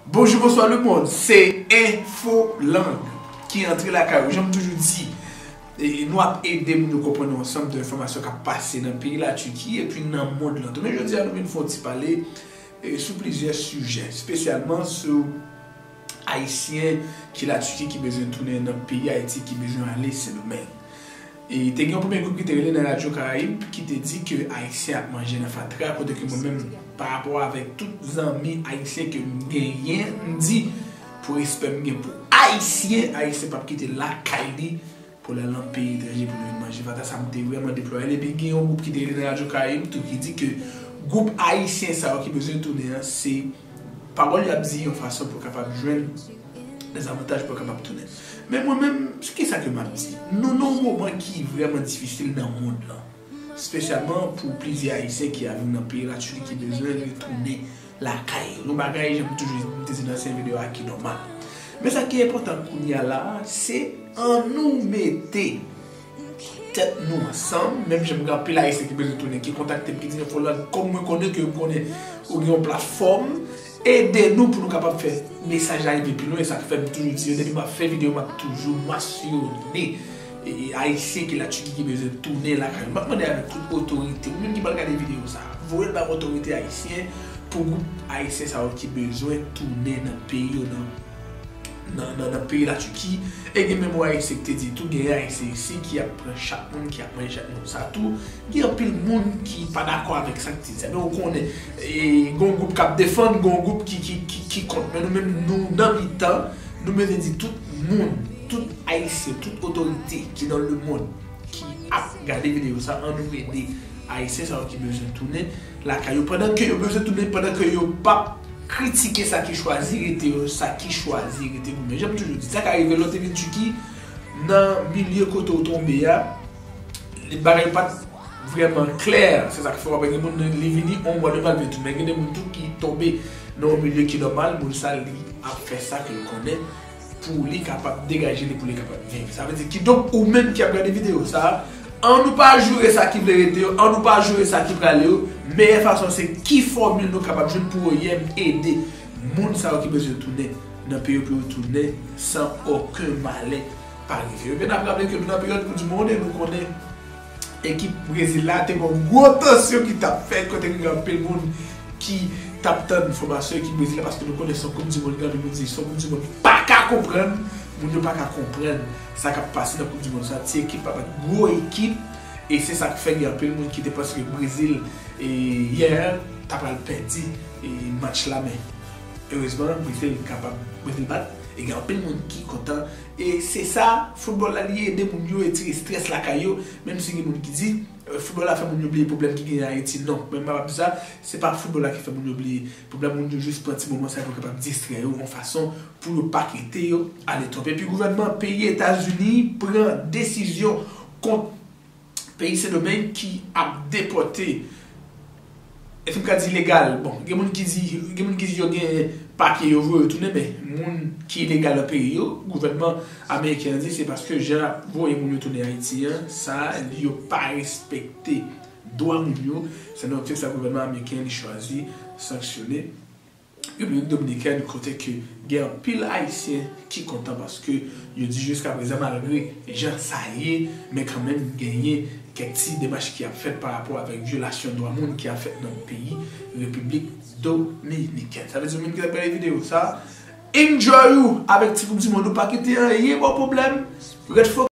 Bonjou bonswa le mond se enfo lang ki antre lakay ou janm toujou di nou ap edem nou konprann yon ansanm de enfòmasyon kap pase nan peyi la Tiki epi nan mond lan tou men jodi a nou vin fon ti pale sou plizyè sijè spesyalman sou Ayisyen ki la Turquie ki bezwen tounen nan peyi Ayiti ki bezwen ale Sendomeng. E te gen yon premye gwoup ki te rele nan radyo Karayib ki te di ke Ayisyen ap manje nan fatra kote ke mwen menm pa rapò avèk tout zanmi Ayisyen ke m genyen m di pou respè m gen pou Ayisyen, Ayisyen pap kite lakay li pou l al nan peyi etranje pou l vin manje fatra sa m te vrèman deplore l epi gen yon gwoup ki te rele nan radyo karayib tou ki di ke gwoup ayisyen sa yo ki bezwen tounen an se pawòl y ap di yon fason pou kapab jwenn dezavantaj pou yo kapab tounen men mwen menm sou kisa ke m ap di nou nan yon moman ki vrèman difisil nan mond lan. Spesyalman pou plizyè Ayisyen ki aviv nan peyi Latuli ki bezwen retounen lakay yo. Yon bagay, jan m toujou di, m te di nan ansyen videyo a, ki nòmal. Men sa ki enpòtan kounye a la a, se annou mete tèt nou ansanm, menm jan m gen anpil Ayisyen ki bezwen tounen, ki kontakte m, ki di m yo fè lòd kò m, mwen konnen ke m konnen ou gen yon platfòm, Ede nou pou nou kapab fè mesaj la rive pi lwen, sak fèm toujou di yo depi map fè video map toujou masyone ayisyen ki la Turquie ki bezwen tounen lakay yo map mande avèk tout otorite ou menm ki pral gade video sa voyel bay otorite ayisyen pou gwoup ayisyen sa yo ki bezwen tounen nan peyi yo nan nan peyi la Tiki e gen menm OASE ki te di tou gen Ayisyen isi ki ap pran chak moun, ki ap manje chak moun sa tou. Gen anpil moun ki pa dakò avèk sa ki te di a men ou konnen gen yon gwoup k ap defann, gen yon gwoup ki kont men nou menm nou nan mitan nou bezwen di tout moun, tout Ayisyen, tout otorite ki nan lemonn. ki ap gade video sa an nou ede ayisyen sa yo ki bezwen tounen lakay yo pandan ke yo bezwen tounen pandan ke yo pap kritike sa ki chwazi rete yo sa ki chwazi rete goumen janm toujou di sa ka rive lè w te vin Tiki nan milye kote w tonbe a bagay yo pat vreman klè se sak fè wap wè gen moun li vini yon mwa 2 mwa li vin tounen men gen de moun tou ki tonbe nan yon milye ki nòmal moun sa li ap fè sa ke l konnen. pou li kapab degaje li pou li kapab viv sa vle di kidonk ou menm ki ap gade video sa an nou pa joure sa ki vle rete yo an nou pa joure sa ki prale yo meyè fason se ki fòmil nou kapab jwenn pou oim ede moun sa yo ki bezwen tounen nan peyo pou yo tounen san oken malè pa rive yo men nap raple ke nou nan peryòd koup di monde nou konnen. Ekip Brezil la te gen yon gwo tansyon ki t ap fèt kote gen anpil moun ki t ap tann fòmasyon ekip Brezil la paske nou konnen se yon koup dimond gen anpil moun di se yon koup dimond ki pa ka konprann moun yo pa ka konprann sa k ap pase nan koup dimond sa ti ekip pa bat gwo ekip e se sa k fè gen anpil moun ki te panse ke Brezil yè ta pral pèdi match la men erezman Brezil kapab Brezil bat e gen anpil moun ki kontan. E se sa, foutbòl la li ede moun yo etire strès lakay yo, menm si gen moun ki di, foutbòl la fè moun yo bliye pwoblèm ki genyen Ayiti. Non, mwen pa pap di sa, se pa foutbòl la ki fè moun yo bliye pwoblèm, moun yo jis pran ti moman sa yo pou yo kapab distrè yo yon fason pou yo pa kite yo ale twòp. Epi gouvènman peyi Etazini pran desizyon kont. peyi Sendomeng ki ap depòte, èske m ka di ilegal, bon gen moun ki di, gen moun ki di yo gen papye yo voye yo tounen men moun ki ilegal nan peyi yo, gouvènman ameriken an di se paske jan y ap voye moun yo tounen Ayiti an, sa yo pa respekte dwa moun yo, se nan optik sa gouvènman ameriken li chwazi sanksyone. Repiblik Dominikèn kote ke gen anpil Ayisyen ki kontan paske yo di jiska prezan malgre jan sa ye men kanmenm genyen kèk ti demach ki ap fèt pa rapò avèk vyolasyon dwa moun ki ap fèt nan peyi Repiblik Dominikèn. Sa vle di moun ki t ap gade videyo sa enjoy ou avèk ti koup di mond ou pa kite anyen ba w pwoblèm ret fokis.